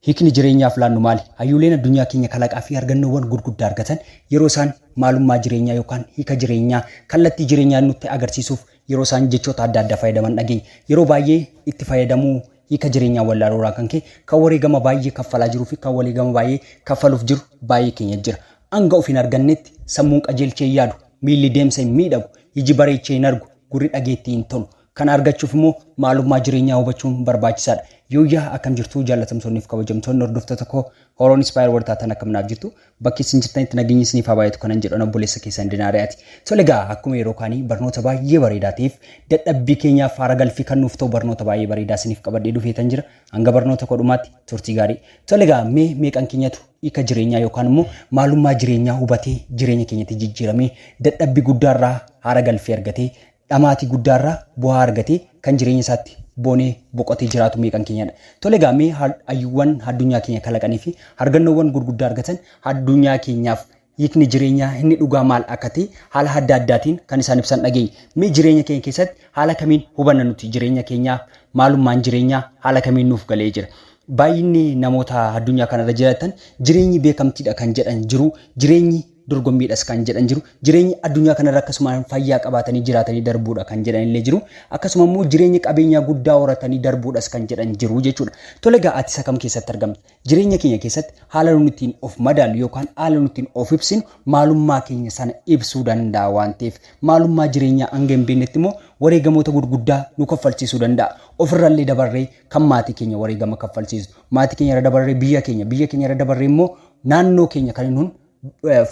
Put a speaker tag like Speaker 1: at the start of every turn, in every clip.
Speaker 1: Hiikni jireenyaaf laannu maali? Hayyuuleen addunyaa keenya kalaqaa fi argannoowwan gurguddaa argatan yeroo isaan maalummaa jireenyaa yookaan hiika jireenyaa, kallattii jireenyaa nutti agarsiisuuf yeroo isaan jechoota adda addaa fayyadaman dhageenya. Yeroo baay'ee itti fayyadamuu hiika jireenyaa wallaaluu irraan kan ka'e kan wareegama baay'ee kaffalaa jiruu fi kan waleegama baay'ee kaffaluuf jiru baay'ee keenya jira. Hanga of hin argannetti sammuun qajeelchee hin yaadu, miilli deemsa hin miidhagu, iji bareechee hin argu, gurri dhageettii hin tolu. Kana argachuuf immoo maalummaa jireenyaa hubachuun barbaachisaadha. Yooyyaa akkam jirtu jaallatamtoonni fi kabajamtoonni hordoftoota koo Horoon Inspire warri taatan akkam naaf jirtu bakki isin jirtanitti nageenyi isiniif haa baay'atu kanan jedhan obboleessa keessan Dinaariyaati. Tole egaa akkuma yeroo kaanii barnoota baay'ee bareedaa ta'eef dadhabbii keenyaaf faara galfii kan nuuf ta'u barnoota baay'ee bareedaa isiniif qabadhee dhufeetan jira. Hanga barnoota koo dhumaatti turtii gaarii. Tole egaa mee meeqan keenyatu hiika jireenyaa yookaan immoo maalummaa jireenyaa hubatee jireenya keenyatti jijjiiramee dadhabbii guddaarraa haara galfii argatee dhamaatii guddaa irraa bu'aa argatee kan jireenya isaatti boonee boqotee jiraatu meeqan keenyadha? Tole egaa mee hayyuuwwan addunyaa keenya kalaqanii fi argannoowwan gurguddaa argatan addunyaa keenyaaf hiikni jireenyaa inni dhugaa maal akka ta'e haala adda addaatiin kan isaan ibsan dhageenya. Mee jireenya keenya keessatti haala kamiin hubanna nuti jireenya keenyaa? Maalummaan jireenyaa haala kamiin nuuf galee jira? Baay'inni namoota addunyaa kanarra jiraatan jireenyi beekamtiidha kan jedhan jiru. Jireenyi dorgommiidhas kan jedhan jiru. Jireenyi addunyaa kanarra akkasumaan fayyaa qabaatanii jiraatanii darbuudha kan jedhan illee jiru. Akkasuma immoo jireenya qabeenyaa guddaa horatanii darbuudhas kan jedhan jiru jechuudha. Tole egaa ati isa kam keessatti argamta? Jireenya keenya keessatti haala nuti ittiin of madaallu yookaan haala nuti ittiin of ibsinu maalummaa keenya sana ibsuu danda'a waan ta'eef maalummaa jireenyaa hanga hin beeknetti immoo wareegamoota gurguddaa nu kaffalchiisuu danda'a. Ofirrallee dabarree kan maatii keenya wareegama kaffalchiisu. Maatii keenya irra dabarree biyya keenya, biyya keenya irra dabarree immoo naannoo keenya kan nun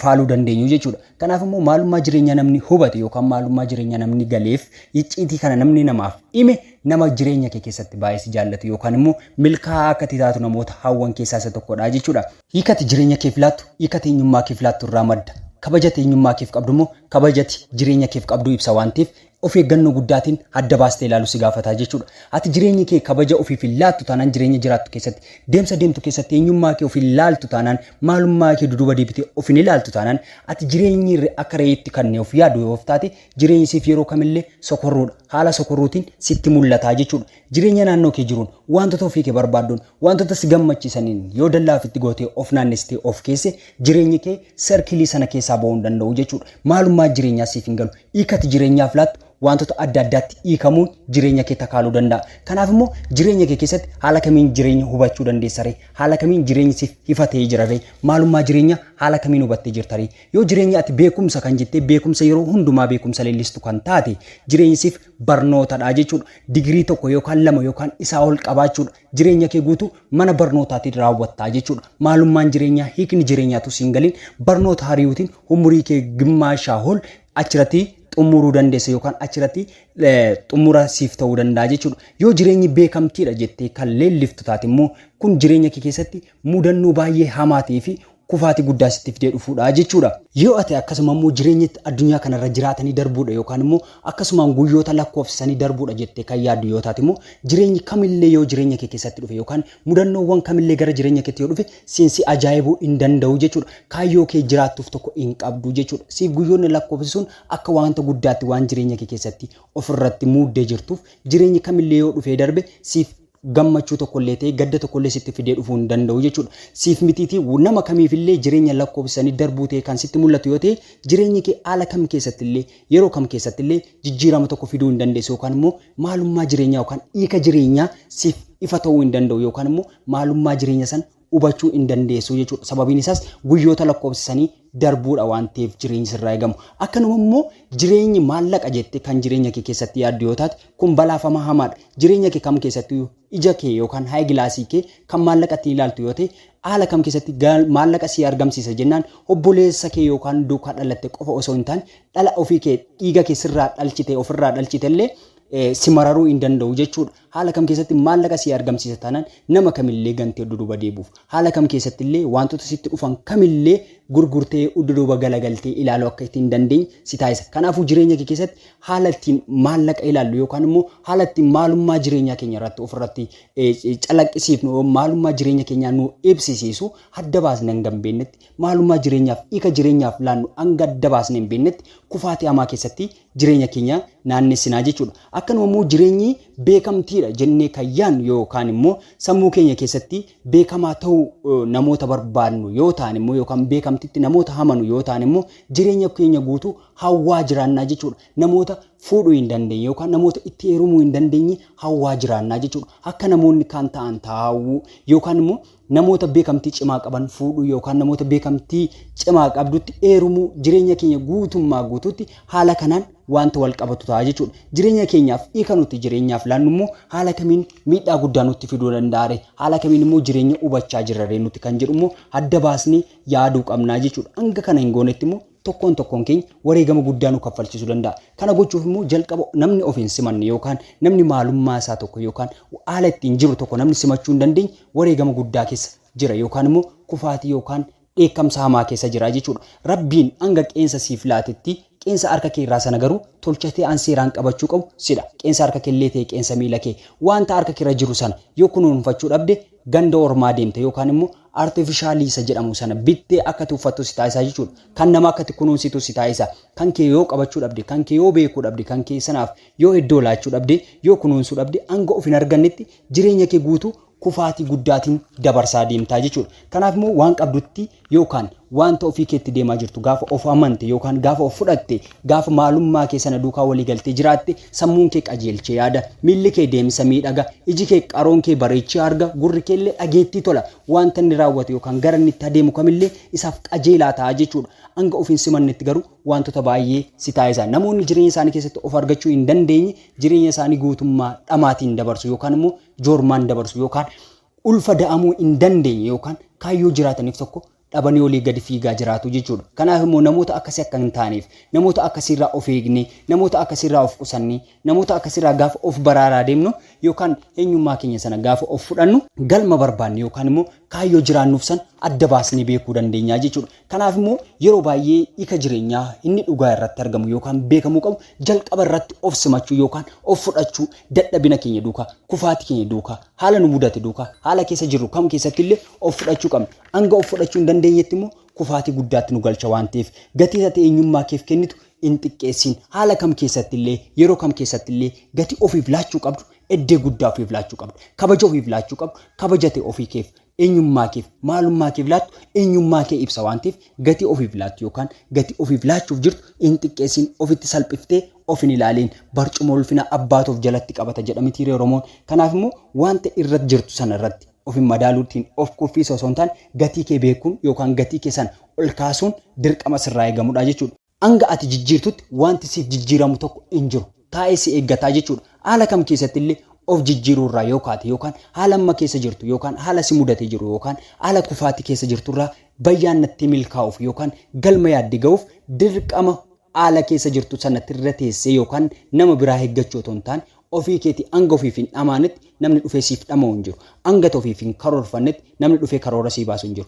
Speaker 1: faaluu dandeenyu jechuudha. Kanaaf immoo maalummaa jireenyaa namni hubate yookaan maalummaa jireenyaa namni galeef icciitii kana namni namaaf hime nama jireenya kee keessatti baay'ee si jaallatu yookaan immoo milkaa'aa akka ati taatu namoota hawwan keessaa isa tokkodha jechuudha. Hiikati jireenya keef laattu hiikati eenyummaa keef laattu irraa madda. Kabajati eenyummaa keef qabdu immoo kabajati jireenya keef qabdu ibsa waan ta'eef of eeggannoo guddaatiin adda baastee ilaaluu si gaafata jechuudha. Ati jireenya kee kabaja ofiif hin laattu taanaan jireenya jiraattu keessatti deemsa deemtu keessatti eenyummaa kee of hin laaltu taanaan maalummaa kee duduuba deebitee of hin ilaaltu taanaan ati jireenyi irra akka reeyitti kannee of yaadu yoo of taate jireenyi siif yeroo kamillee sokorruudha. Haala sokorruutiin sitti mul'ata jechuudha. Jireenya naannoo kee jiruun wantoota ofii kee barbaadduun wantoota si gammachiisaniin yoo dallaa ofitti gootee of naannessitee of keesse jireenyi kee serkilii sana keessaa ba'uu hin danda'u jechuudha. Maalummaa jireenyaa siif hin galu. Hiika ati jireenyaaf laattu waantota adda addaatti hiikamuun jireenya kee takaaluu danda'a. Kanaaf immoo jireenya kee keessatti haala kamiin jireenya hubachuu dandeessaree? Haala kamiin jireenyi siif ifa ta'ee jiraree? Maalummaa jireenyaa haala kamiin hubattee jirtaree? Yoo jireenya ati beekumsa kan jettee beekumsa yeroo hundumaa beekumsa leellistu kan taate jireenyi siif barnootadha jechuudha. Digirii tokko yookaan lama yookaan isaa ol qabaachuudha. Jireenya kee guutuu mana barnootaatiin raawwatta jechuudha. Maalummaan jireenyaa, hiikni jireenyaatu siin galiin barnoota hariyuutiin umurii kee gimmaashaa ol achirratti xumuruu dandeessa yookaan achirratti xumura siif ta'uu danda'a jechuudha. Yoo jireenyi beekamtiidha jettee kan leelliftu taate immoo kun jireenya kee keessatti mudannoo baay'ee hamaa ta'ee fi kufaatii guddaa sitti fidee dhufuudha jechuudha. Yoo ati akkasuma immoo jireenya addunyaa kana irra jiraatanii darbuudha yookaan immoo akkasumaan guyyoota lakkoofsisanii darbuudha jettee kan yaaddu yoo taate immoo jireenyi kamillee yoo jireenya kee keessatti dhufe yookaan mudannoowwan kamillee gara jireenya keetti yoo dhufe siin si ajaa'ibuu hin danda'u jechuudha. Kaayyoo kee jiraattuuf tokko hin qabdu jechuudha. Siif guyyoonni lakkoofsisuun akka waanta guddaatti waan jireenya kee keessatti ofirratti muuddee jirtuuf jireenyi kamillee yoo dhufee darbe siif gammachuu tokkollee ta'e gadda tokkollee sitti fidee dhufuu hin danda'u jechuudha. Siif mitiitii nama kamiifillee jireenya lakkoofsisanii darbuu ta'e kan sitti mul'atu yoo ta'e jireenyi kee haala kam keessattillee yeroo kam keessattillee jijjiirama tokko fiduu hin dandeessu yookaan immoo maalummaa jireenyaa yookaan hiika jireenyaa siif ifa ta'uu hin danda'u yookaan immoo maalummaa jireenya san hubachuu hin dandeessu jechuudha. Sababiin isaas guyyoota lakkoofsisanii darbuudha waan ta'eef jireenyi sirraa eegamu. Akkanuma immoo jireenyi maallaqa jettee kan jireenya kee keessatti yaaddu yoo taate kun balaafama hamaadha. Jireenya kee kam keessatti ija kee yookaan hayi gilaasii kee kan maallaqa ittiin ilaaltu yoo ta'e haala kam keessatti maallaqa si argamsiisa jennaan obboleessa kee yookaan duukaa dhalatte qofa osoo hin taane dhala ofii kee dhiiga kee sirraa dhalchite ofirraa dhalchite illee si mararuu hin danda'u jechuudha. Haala kam keessatti maallaqa sii argamsiisa taanaan nama kamillee gantee udduduuba deebuuf. Haala kam keessattillee waantota sitti dhufan kamillee gurgurtee udduduuba galagaltee ilaaluu akka itti hin dandeenye si taasisa. Kanaafuu jireenya kee keessatti haala ittiin maallaqa ilaallu yookaan immoo haala ittiin maalummaa jireenyaa keenya irratti ofirratti calaqqisiifnu maalummaa jireenya keenyaa nuu ibsisiisu adda baasne hanga hin beeknetti maalummaa jireenyaaf hiika jireenyaaf laannu hanga adda baasne hin beeknetti kufaatii hamaa keessatti jireenya keenya naannessinaa jechuudha. Akkanuma immoo jireenyi beekamtiidha jennee kan yaannu yookaan immoo sammuu keenya keessatti beekamaa ta'uu namoota barbaadnu yoo taane immoo yookaan beekamtitti namoota hamanu yoo taane immoo jireenya keenya guutuu hawwaa jiraannaa jechuudha. Namoota fuudhuu hin dandeenye yookaan namoota itti heerumuu hin dandeenye hawwaa jiraannaa jechuudha. Akka namoonni kaan ta'an taa'uu yookaan immoo Namoota beekamtii cimaa qaban fuudhuu yookaan namoota beekamtii cimaa qabdutti eerumuu jireenya keenya guutummaa guutuutti haala kanaan wanta wal qabatu ta'a jechuudha. Jireenya keenyaaf hiika nuti jireenyaaf laannu immoo haala kamiin miidhaa guddaa nutti fiduu danda'are haala kamiin immoo jireenya hubachaa jirraree nuti kan jedhu immoo adda baasnee yaaduu qabnaa jechuudha. Hanga kana hin goonetti immoo Tokkoon tokkoon keenya wareegama guddaa nu kaffalchiisuu danda'a. Kana gochuuf immoo jalqaba namni ofiin simanne yookaan namni maalummaa isaa tokko yookaan haala ittiin jiru tokko namni simachuu hin dandeenye wareegama guddaa keessa jira yookaan immoo kufaatii yookaan dheekkamsa hamaa keessa jira jechuudha. Rabbiin hanga qeensa siif laatetti qeensa harka kee irraa sana garuu tolchatee an seeraan qabachuu qabu sidha. Qeensa harka kee illee ta'e qeensa miila kee wanta harka kee irra jiru sana yoo kunuunfachuu dhabde ganda ormaa deemta yookaan immoo artificially isa jedhamu sana bittee akka tuffattu si taasisa jechuudha. Kan nama akkatti kunuunsitu si taasisa. Kan kee yoo qabachuu dhabde, kan kee yoo beekuu dhabde, kan kee sanaaf yoo iddoo laachuu dhabde, yoo kunuunsuu dhabde hanga of hin argannetti jireenya kee guutuu kufaatii guddaatiin dabarsaa deemtaa jechuudha. Kanaaf immoo waan qabdutti yookaan Wanta ofii keetti deemaa jirtu gaafa of amante yookaan gaafa of fudhatte, gaafa maalummaa kee sana duukaa walii galtee jiraatte, sammuun kee qajeelchee yaada, miilli kee deemsa miidhaga, iji kee qaroon kee bareechee arga, gurri kee illee dhageettii tola. Wanta inni raawwatu yookaan gara inni itti adeemu kam illee isaaf qajeelaa ta'a jechuu dha. Hanga of hin simannetti garuu wantota baay'ee si taasisa. Namoonni jireenya isaanii keessatti of argachuu hin dandeenye jireenya isaanii guutummaa dhamaatiin dabarsu yookaan immoo joormaan dabarsu yookaan ulfa da'amuu hin dandeenye yookaan kaayyoo jiraataniif tokko dhabanii olii gadi fiigaa jiraatu jechuudha. Kanaaf immoo namoota akkasii akka hin taaneef, namoota akkasii irraa of eegnee, namoota akkasii irraa of qusannee, namoota akkasii irraa gaafa of baraaraa deemnu yookaan eenyummaa keenya sana gaafa of fudhannu, galma barbaanne yookaan immoo kaayyoo jiraannuuf sana adda baasnee beekuu dandeenya jechuudha. Kanaaf immoo yeroo baay'ee hiika jireenyaa inni dhugaa irratti argamu yookaan beekamuu qabu jalqaba irratti of simachuu yookaan of fudhachuu dadhabina keenya duukaa, kufaati keenya duukaa, haala nu mudate duukaa, haala keessa jirru kam keessatti illee of fudhachuu qabna. Hanga of fudhachuu hin dandeenyetti immoo kufaatii guddaatti nu galcha waan ta'eef gatiin ati eenyummaa keef kennitu hin xiqqeessiin. Haala kam keessatti illee, yeroo kam keessatti illee gatii ofiif laachuu qabdu eddee guddaa ofiif laachuu qabda. Kabaja ofiif laachuu qabdu kabaja ta'e ofii keef eenyummaa keef maalummaa keef laattu eenyummaa kee ibsa waan ta'eef gatii ofiif laattu yookaan gatii ofiif laachuuf jirtu hin xiqqeessin ofitti salphiftee of hin ilaaliin barcuma ulfina abbaatu of jalatti qabata jedhamitii ree Oromoon kanaaf immoo wanta irratti jirtu sana irratti of hin madaaluutiin of kuffiisa osoo hin taane gatii kee beekuun yookaan gatii kee sana ol kaasuun dirqama sirraa eegamudha jechuudha. Hanga ati jijjiirtutti wanti siif jijjiiramu tokko hin jiru. Taa'ee si eeggata jechuudha. Haala kam keessatti illee of jijjiiruu irraa yoo kaate yookaan haala amma keessa jirtu yookaan haala si mudatee jiru yookaan haala kufaatii keessa jirtu irraa bayyaannattee milkaa'uuf yookaan galma yaadde gahuuf dirqama haala keessa jirtu sanatti irra teessee yookaan nama biraa eeggachuu otoo hin taane ofii keetii hanga ofiif hin dhamaanetti namni dhufee siif dhama'u hin jiru. Hanga ati ofiif hin karoorfannetti namni dhufee karoora sii baasu hin jiru.